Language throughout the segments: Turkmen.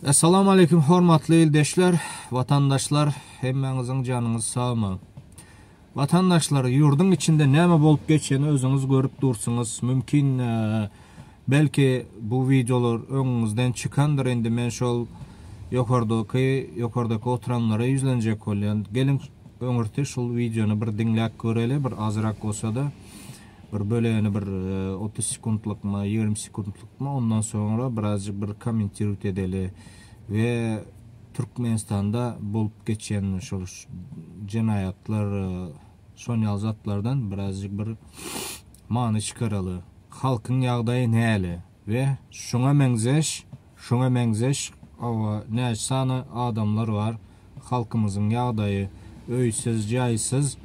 Essalamu aleýkum hormatly ildeşler, watandaşlar hemmäňiziň janyňyz sagmy? Watandaşlar ýurduň içinde näme bolup geçýäni özüňiz görüp dursuňyz, mümkin belki bu wideolar öňüňizden çykandyr indi men şol ýokardaky ýokardaky oturanlara ýüzlenjek bolýan. Geliň öňürti şul wideony bir diňläp göreli bir azrak bolsada. bir bölegini bir otuz sekuntlykmy ýigrimi sekuntlykmy ondan soňra birazjyk bir kommentirowt edeli we türkmenistanda bolup geçen şol jenaýatlar şon ýaly zatlardan birazjyk bir many çykaraly halkyň ýagdaýy näle we şuňa meňzeş şuňa meňzeş oba näçe sany adamlar bar halkymyzyň ýagdaýy öýsüz jaýsyz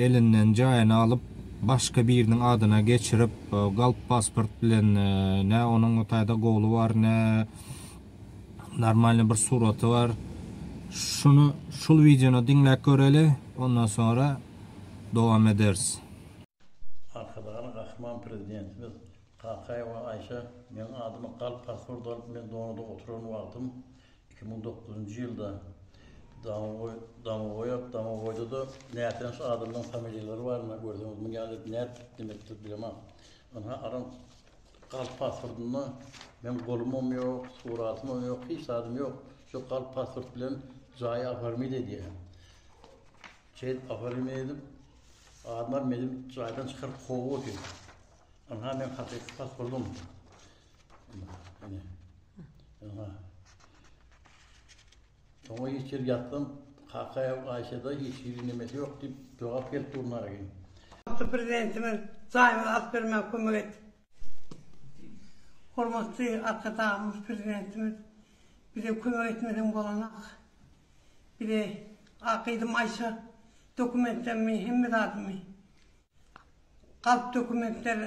elinden jaýyny alyp başga biriniň adyna geçirip galp pasport bilen nä onuň o taýda goly bar nä normalny bir suraty bar şuny şul wideony diňläp göreli ondan soňra dowam ederis. Arkadagly Gahryman Prezidentimiz Kakaýewa Aýşe Meniň adymy galp pasporty alyp men Donoda oturan wagtym iki müň dokuzynjy ýylda Domogoý Domogoýak Domogoýda-da nätanyş adamlaryň familiýalary bar indi görseňiz muny ýaly edip nätdik diýmekdir bilemok ynha aram galp pasportynda meň golumam ýok suratymam ýok hiç zadym ýok şu galp pasport bilen jaýy oformit edýä. Seýit Gafary Meýlim adyndan meni jaýdan çykaryp kowup otyr. Ynha meň hakyky pasportym. Ine. Ynha. Soňa hiç ýer ýatdym. Kakaýew Aýşede hiç hili nemesi ýok diýip jogap gelip dur Nargin. Hormatly Prezidentimiz jaýymyzy alyp bermäge kömek etdi. Hormatly Arkadagymyz Prezidentimiz bize kömek etmeden bolanok. Bize A. Gyzym Aýşe dokumentlerimi hemme zadymy galp dokumentler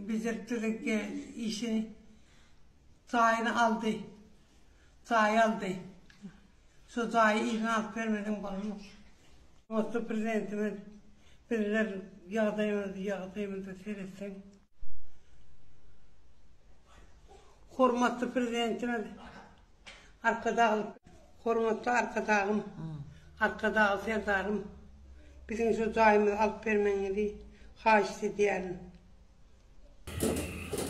bejerip durke işini jaýyny aldy. Jaý aldy. Şo jaýy yzyna alyp bermeden bolanok. Hormatly Prezidentimiz bizler ýagdaýymyzy ýagdaýymyzy seretseň. Hormatly Prezidentimiz Arkadagly Hormatly Arkadagym, Arkadagly Serdarym, biziň şu jaýymyzy alyp bermegiňizi haýyşt edýärin.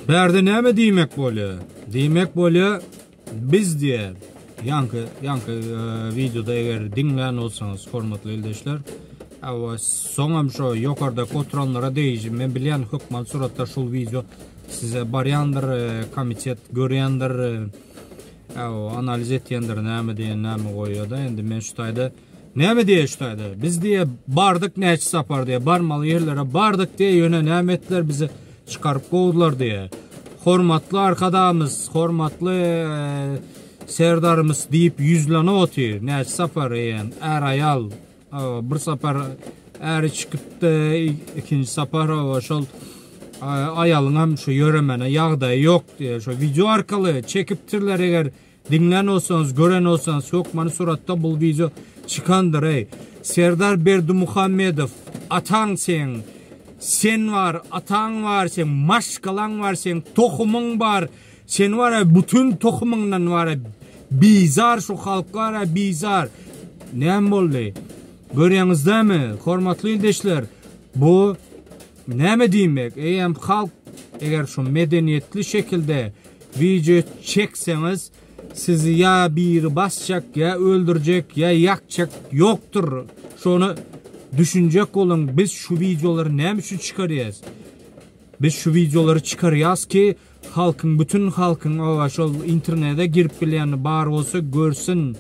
Bärde näme diýmek bolýar? Diýmek bolýar, Biz diye yankı yankı e, videoda eger dinleyen olsanız hormatly ildeşler Awa soňam şu ýokarda oturanlara deýjim. Men bilýän hökman suratda şul wideo size barýandyr, e, komitet görýändir. E, Awa analiz etýändir näme diýen näme goýýada. Indi men şu taýda Näme diýýä şu taýda? Biz diýýä bardyk näçe sapar diýýä, barmaly ýerlere bardyk diýýä, ýöne näme etdiler bizi çykaryp kowdular diýýä. Hormatly Arkadagymyz, hormatly Serdarymyz diýip ýüzlenip otyr. Näçe sapar eýýäm är-aýal bir sapar äri çykypdy, ikinji sapar şol aýalyňam şu ýöremene ýagdaýy ýok diýýä. Şu wideo arkaly çekipdirler eger Diňlän bolsaňyz gören bolsaňyz hökmany suratda bul wideo çykandyr eý Serdar Berdimuhamedow ataň seň sen bar ataň bar seň maşgalaň bar seň tohumyň bar sen bar ya bütün tohumyňdan bar ya bizar şu halk bar ya bizar näme boldy görýäňizdämi hormatly ildeşler bu Näme diýmek, eýýäm halk eger şu medeniýetli şekilde wideo çekseňiz sizi ýa biri basjak ýa öldürjek ýa ýakjak ýokdur şony düşünjek boluň biz şu wideolary näme üçin çykarýas biz şu wideolary çykarýas ki halkyň bütün halkyň owa şol internede girip bilýän bar bolsa görsün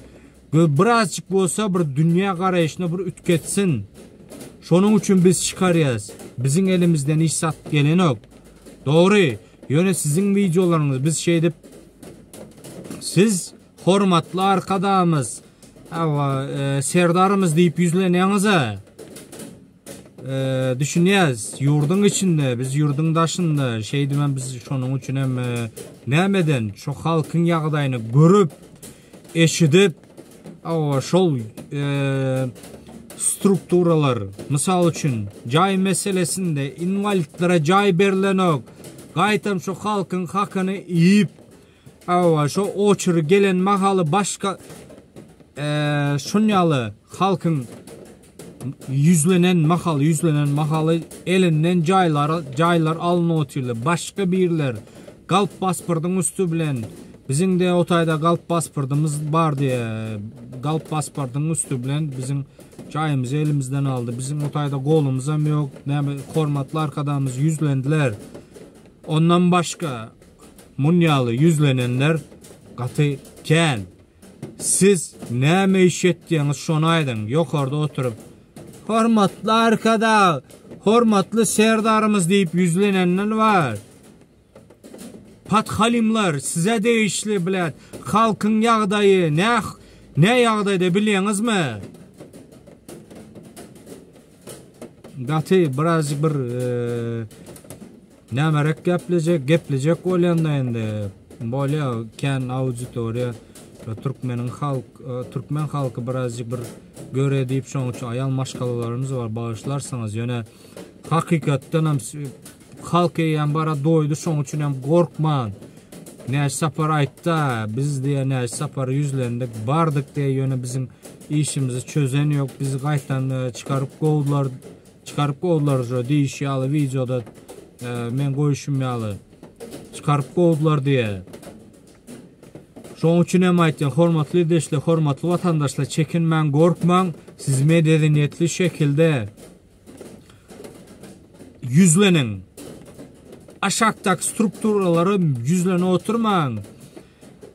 Biz birazjyk bolsa bir dünýä garaýşyny bir üýtgetsin. Şonuň üçin biz çykarýas. Biziň elimizden hiç zat gelenok. Dogry, ýöne siziň wideolaryňyz biz şeýdip Siz hormatly arkadagymyz, hawa, serdarymyz diýip ýüzlenýäňiz-a. Düşünýäs, ýurduň içinde, biz ýurduň daşynda, şeýdibem biz şonuň üçinem näme eden, şo halkyň ýagdaýyny görüp, eşidip, şol strukturalar, mysal üçin, jaý meselesinde inwalidlere jaý berilenok, gaýtam şu halkyň hakyny iýip, şo oçeri gelen mahaly başga şun ýaly halkyň Ýüzlenen mahaly, ýüzlenen mahaly elinden jaýlary, jaýlar alnyp otyrlar. Başga birler galp pasportyň üsti bilen biziň-de o taýda galp pasportymyz bar diýe, galp pasportyň üsti bilen biziň jaýymyzy elimizden aldy. Biziň o taýda golumyzam ýok. Näme hormatly arkadagymyz ýüzlendiler. Ondan başga munýaly ýüzlenenler gaty kän. Siz näme iş etýäňiz şony aýdyň, ýokarda oturyp, Hormatly Arkadag, hormatly Serdarymyz diýip ýüzlenenden bar. Podhalymlar, size degişli, bläd, halkyň ýagdaýy näh, ne ýagdaýda bilýäňizmi? Gaty biraz bir e, nämerek geplejek, geplejek bolýanda indi bolýar kän auditoriýa e, türkmeniň halk e, türkmen halky biraz bir göre diýip şoň üçin aýal maşgalalarymyz bar bagyşlarsyňyz ýöne hakykatdan hem Halk eýýäm bara doýdy şoň üçinem gorkman Näji Sapar aýtda biz diýä Näji Sapara ýüzlendik bardyk diýä ýöne biziň işimizi çözen ýok bizi gaýtam çykaryp gowdylar çykaryp gowdylar jo diýişi ýaly wideoda men goýuşym ýaly çykaryp gowdylar diýä Şoň üçinem aýtýan hormatly ildeşler hormatly watandaşlar çekinmäň gorkmaň siz mededeniýetli şekilde Ýüzleniň. Aşakdaky strukturalara ýüzlenip oturmaň.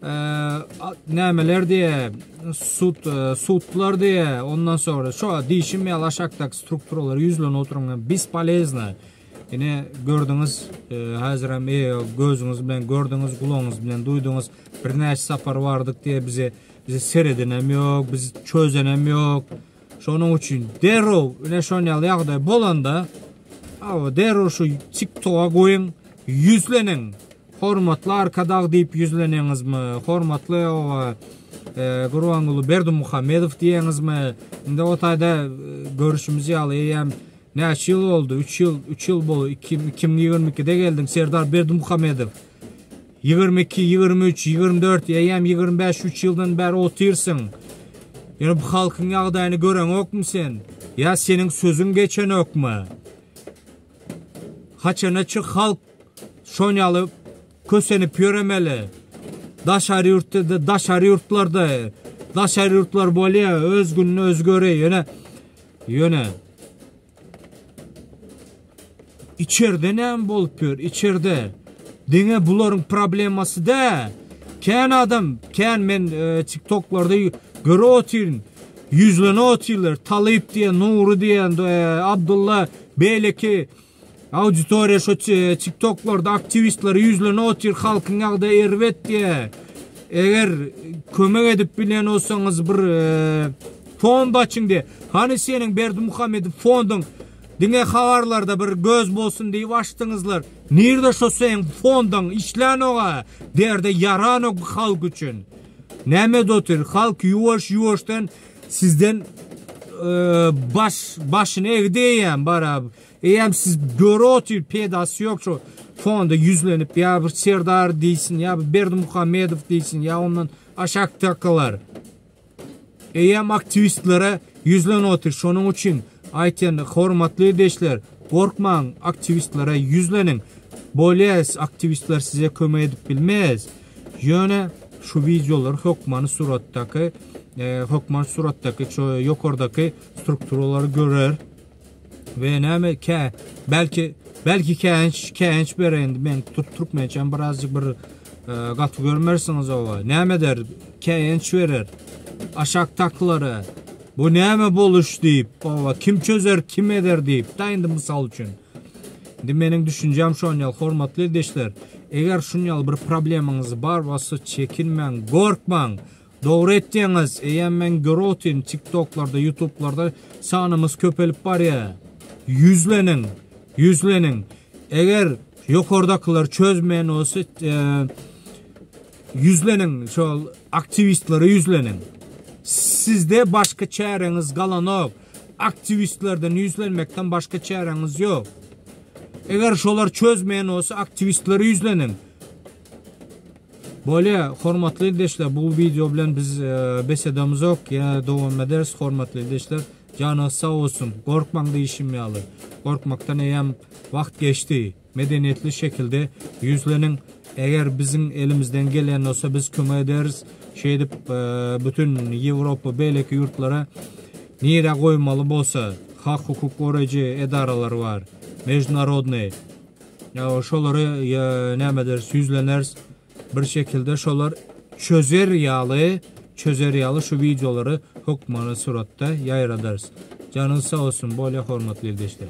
Nämeler diýe, sud, e, sudlar diýe, ondan sonra şu diýişim ýaly aşakdaky strukturalara ýüzlenip oturyň. Biz polezna. Ine gördüňiz, e, häzir hem e, gözüňiz bilen gördüňiz, gulagyňyz bilen duýduňyz. Birnäçe sapar bardyk diýe bize bize seredenem ýok, biz çözenem ýok. Şonuň üçin derrew ine şonýal ýagdaý bolanda awa derrew şu TikToka goýuň, ýüzleniň. Hormatly Arkadag diýip ýüzleniňizmi? Hormatly owa e, Gurbanguly Berdimuhamedow diýeňizmi? Indi o taýda e, görüşimiz ýaly eýýäm näçe ýyl boldy? 3 ýyl, 3 ýyl boldy. 2022-de geldiň Serdar Berdimuhamedow. Ýigrimi iki, ýigrimi üç, ýigrimi dört, eýýäm ýigrimi bäş, üç ýyldan bäri otyrsyň. Ýöne bu halkyň ýagdaýyny göreňokmy sen? Ýa seniň sözüň geçenokmy? Haçana çyk halk şon ýaly kösenip ýöremeli? Daşary ýurtda-da, daşary ýurtlarda, daşary ýurtlar bolýa, öz gününe özi görýä, ýöne, ýöne. İçerde näme bolup ýör? İçerde. Diňe bularyň problemasy dä. Kän adam, kän men e, TikToklarda görüp otyryn. Ýüzlenip otyrlar. Talyp diýen, Nury diýen, e, Abdulla, beýleki Auditoriýa şu tiktoklarda aktiwistleri ýüzlene otyr halkyň ýagdaýy erbet diýe. Eger kömek edip bilýän bolsaňyz bir fond açyň diýe. Hany seniň Berdimuhamedow fonduň diňe habarlarda bir göz bolsun diýip açdyňyzlar. Nirde şo seň fondaň işlänoga derde ýaranok halk üçin. Näme edip otyr halk ýuwaş ýuwaşdan sizden baş başyny egdi eýýäm barab. Eýýäm siz göre otyr peýdasy ýok şu fonda ýüzlenip ýa bir Serdar diýsin ýa bir Berdimuhamedow diýsin ýa ondan aşak takalar. Eýýäm aktiwistlere ýüzlen otyr şonuň üçin aýtýan hormatly ildeşler gorkmaň aktiwistlere ýüzleniň bolýas aktiwistler size kömek edip bilmez ýöne şu wideolar hökmany suratdaky hökmany suratdaky şu ýokardaky strukturalary görer. We näme kä belki belki käinç käinç berendi men türk türkmençem birazcık bir gaty görmersiňiz owa näme der käinç berer aşak taklara bu näme boluş diýip owa kim çözer kim eder diýip da indi mysal üçin indi meniň düşünjem şonýal hormatly ildeşler eger şunýal bir problemaňyz bar bolsa çekinmäň gorkmaň Dogry etýäňiz eýýäm men görotyn tiktoklarda ýutublarda sanymyz köpelip barýa ýüzleniň ýüzleniň eger ýokardakylar çözmeýän bolsa ýüzleniň şol aktiwistlere ýüzleniň sizde başga çäreňiz galanok aktiwistlerden ýüzlenmekden başga çäreňiz ýok eger şolar çözmeýän bolsa aktiwistlere ýüzleniň Bolýa hormatly ildeşler bu wideo bilen biz bes edemizok ýene dowam ederis hormatly ildeşler janyňyz sag bolsun gorkmaň diýişim ýaly gorkmakdan eýýäm wagt geçdi medeniýetli şekilde ýüzleniň eger biziň elimizden gelýän bolsa biz kömek ederis şeýdip bütin ýewropa beýleki ýurtlara nirä goýmaly bolsa hak hukuk goraýjy edaralary bar mejnarodnyý Ýa şolary ýa näme ederis, ýüzleneris. Bir şekilde şolar çözer ýaly, çözer ýaly şu wideolary hökmany suratda ýaýradarys. Janyňyz sag bolsun, bolýa hormatly ildeşlerim.